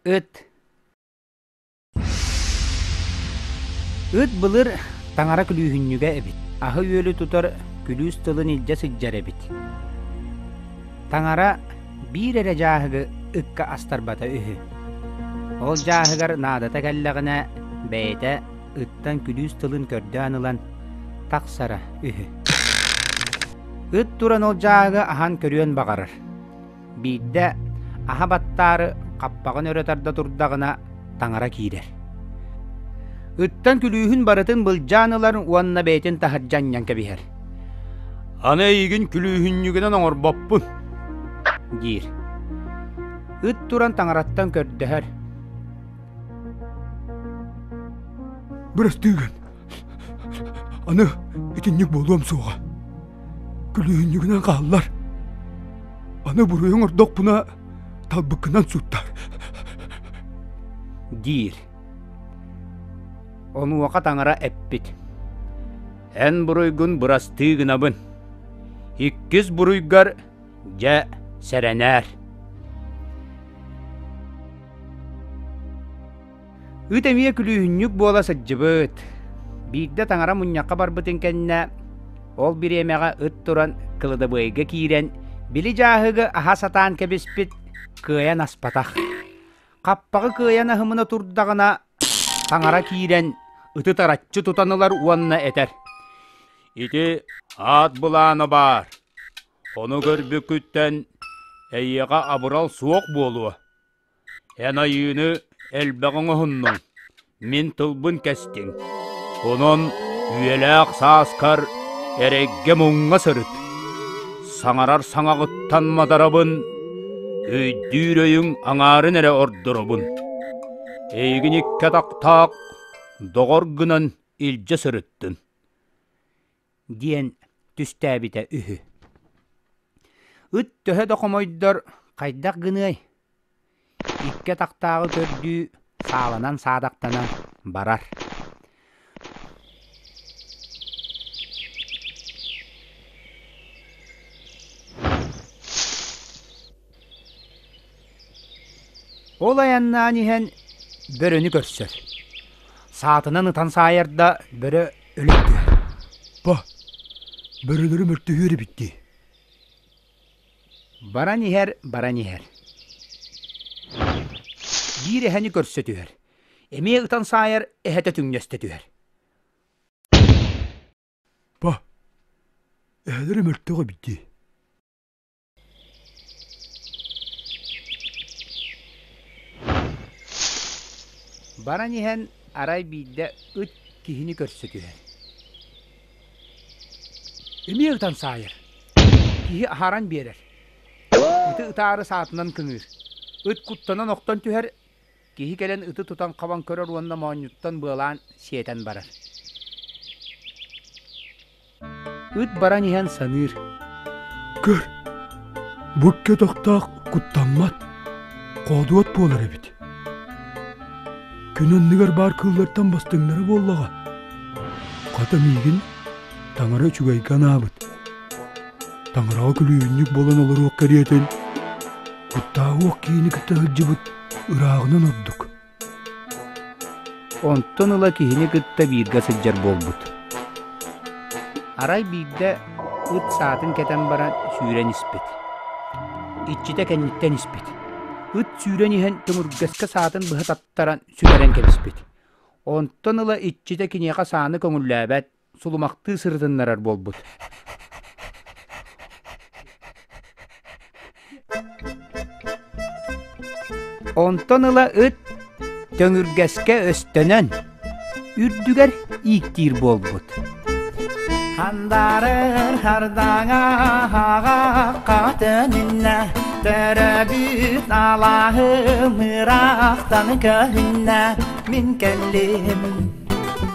Ыт Ыт былыр таҥара күлүүһүнньүгэ эбит. Аһы-үөлү тутар күлүүс тылын илдьэ сылдьар эбит. Таҥара биир эрэ дьааһыгы ыкка астарбата үһү. Ол дьааһыгар наадата кэллэҕинэ бэйэтэ ыттан күлүүс тылын көрдөөн ылан тахсара үһү. Ыт туран ол дьааһыгы аһан көрүөн баҕарар. Биирдэ аһа баттаары хаппаҕын өрө тарда турдаҕына таҥара киирэр. Ыттан күлүүһүн барытын былдьаан ылар уонна бэйэтин таһырдьа анньан кэбиһэр. Аны эйигин күлүүһүнньүгүнэн оҥорбоппун, диир. Ыт туран таҥараттан көрдөһөр. Бырастыыгын, Аны итинник буолуом суоҕа. Күлүүһүнньүгүнэн хааллар. Аны буруйу оҥордохпуна талбыккынан суттар. диир. Онуоха таҥара эппит. Эн буруйгун бырастыы гынабын. Иккис буруйгар дьэ сэрэнээр. Ыт эмиэ күлүүһүнньүк буола сылдьыбыт. Биирдэ таҥара мунньахха барбытын кэннэ, ол бириэмэҕэ ыт туран кыладабыайга киирэн, били дьааһыгы аһа сатаан кэбиспит, кыайан аспатах. Хаппаҕы кыайан аһымына турдаҕына, таҥара киирэн, ыты тараччы тутан ылар уонна этэр: «Ити аат былаана баар. Ону көрбүккүттэн эйиэхэ абырал суох буолуо». Эн айыыны элбэҕи оҥоһуннуҥ, мин тылбын кэстиҥ, онон үйэлээх сааскар эрэйгэ-муҥха сырыт, саҥарар саҥаҕыттан модарабын, өйдүүр өйүҥ аҥаарын эрэ ордоробун. Эйигин икки атахтаах доҕор гынан илдьэ сырыттын. диэн түстээбитэ үһү. Ыт төһө да хомойдор хайдах гыныай? Икки атахтааҕы көрдүү сааланан саадахтанан барар. Ол айаннаан иһэн бөрөнү көрсөр. Саатынан ытан саайарда бөрө Өлүҥ дии. Бо, бөрөлөрү мөлтөһүөр эбит дии. Баран иһэр, баран иһэр. Биир эһэни көрсө түһэр. Эмиэ ытан саайар эһэтэ түҥнэстэ түһэр. Бо, эһэлэрэ мөлтөҕө эбит дии. Баран иһэн арай биирдэ ыт киһини көрсө түһэр. Эмиэ ытан саайар. Киһи аһаран биэрэр. Ити ытаары саатынан көмүөр. Ыт куттанан охтон түһэр, Киһи кэлэн ыты тутан хабан көрөр уонна моонньуттан быалаан сиэтэн барар. Ыт баран иһэн саныыр. Көр, бу кетохтоох куттаммат, хоодуот буолар эбит. Күн анныгар баар кыыллартан бастыҥнара буоллаҕа. Хата миигин таҥара үчүгэйгэ анаабыт. Таҥараҕа күлүүбүнньүк буолан олоруох кэриэтин, куттааҕы уох киини кытта сылдьыбыт Ырааҕынан ордук. Онтон ыла киһини кытта бииргэ сылдьар буолбут. Арай биирдэ ыт саатын кэтэн баран сүүрэн испит. Иччитэ кэнниттэн испит. Ыт сүүрэн иһэн тымыргэскэ саатын быһа таттаран сүтэрэн кэбиспит. Онтон ыла иччитэ киниэхэ сааны көҥүллээбэт, сулумахтыы сырытыннарар буолбут онтон ыла ыт төҥүргэскэ өстөнөн үрдүгэр ииктиир буолбут Хандарыр хардаҥа хатын иннэ Төрөбүт алаһым ыраахтан көннө мин кэллим